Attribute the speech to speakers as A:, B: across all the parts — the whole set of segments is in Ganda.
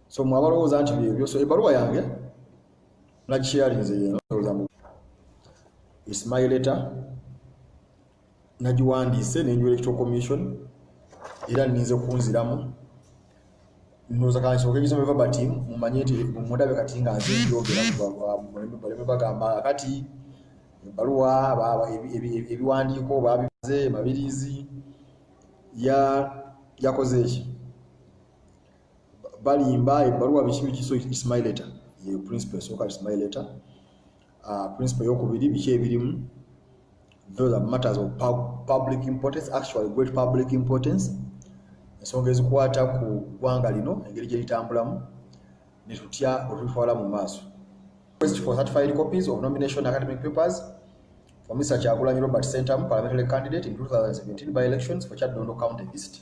A: so mwe abalowooza nti byebyo so ebaluwa yange nagisharinze yenozamu ismail leta nagiwandiise nenjula electoral commission era ninze kunziramu nozakansoka egisoma eva bati mumanye nti mundabe kati nga nze njogera baleme bagamba kati ebaluwa ebiwandiiko babize mabirizi yakoze eki balimba ebbaluwa biki biki so it's my letter ye principal esooka it's my letter uh, principal eyokubiri biki ebirimu those are matters of pub public importance actually great public importance ensonga ezikwata ku ggwanga lino engeri gye litambulamu ne tutya olutwala mu maaso request for certified copies of nomination academic papers for Mr. Kyagulanyi Robert Sentamu, parliamentary candidate in 2017 by elections for Chad Dondo County East.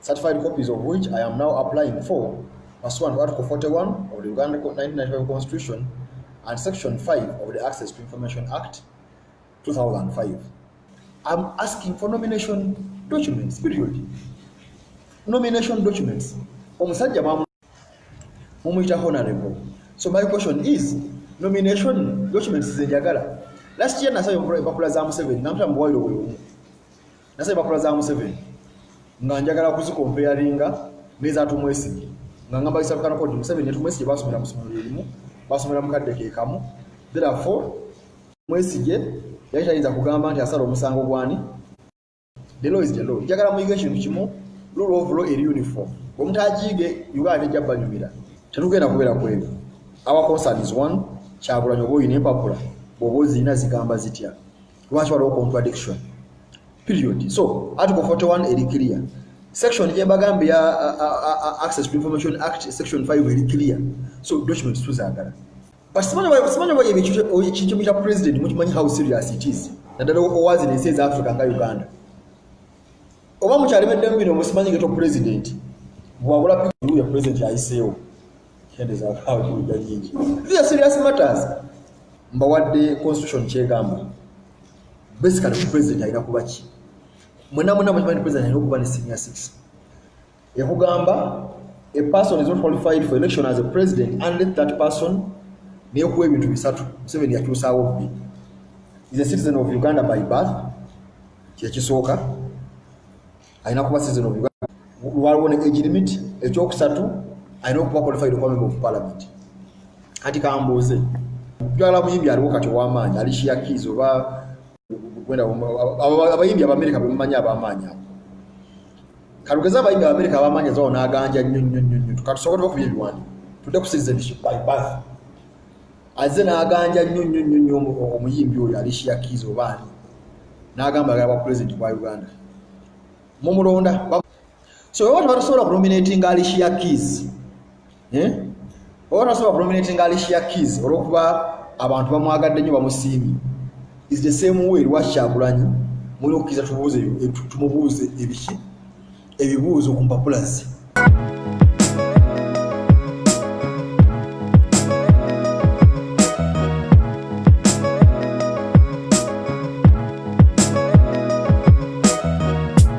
A: certified copies of which I am now applying for pursuant to Article 41 of the Uganda 1995 Constitution and Section 5 of the Access to Information Act 2005. I'm asking for nomination documents, period. Nomination documents. Omusajja mumuyita honorable so my question is nomination documents zenjagala last year nasaba empapula za museveni namuta muwairo bwebumu nasaba empapula za museveni nga njagala kuzikompeyaringa nezatumwesigi nga ngamba isabukanakodi museveni netumwesigi basomera musomero lyerimu basomera mukadde kekamu therefore mwesige yali tayinza kugamba nti asala omusango gwani the law is the law njagala muyige ekintu kimu rule of law eri uniform omutajiige uganda tejja banyumira tetugenda kubeera kwebyo our concern is one kyagulanyi oba oyina empapula bwoba ozirina zigamba zitya lwaki waliwo contradiction period so article 41 eri clear section gyembagamba ya access to information act section 5 eri clear so documents tuzagala But simanyi oba simanyi oba ebikyusa ekintu kya president mukimanyi how serious it is. Naddala owazi ne says Africa nga Uganda. Oba mukyali medde mbino musimanyi geto president. Bwabula piku ya president ya ICO. Kende za kawo kuli gajinji. These are serious matters. Mbawadde constitution kyegamba. Basically president ayina kubachi. Mwena mwena mwakimanyi president ayina kuba ne senior citizen. ekugamba a person is not qualified for election as a president unless that person nekuwa ebintu bisatu museveni yakyusaawo bbi is a citizen of uganda by birth kyekisooka alina kuba citizen of uganda waliwo ne age limit ekyokusatu alina okuba qualified okuba member of parliament kati kambuuze jwala muyimbi aliwo kati owamaanyi alishiyakiizi oba wenda abayimbi abamerika bemumanyi abamaanyi abo kalugeze abayimbi abamerika abamaanyi ezawo naganja nyo nyo nyo nyo tukatusobola okuba ebiwandi tudde ku citizenship by birth azze naganja nyo nyo nyo nyo omuyimbi oyo alishia kiz obaani nagamba agala bwa president bwa uganda mumulonda so oba tebatusobola kunominatinga alicia keys eh? oba tasobola kunominatinga alicia keys olwokuba abantu bamwagadde nyo bamusiimi is the same way lwakyagulanyi mulina okukiriza tubuuze tumubuuze ebiki ebibuuzo ku mpapula ze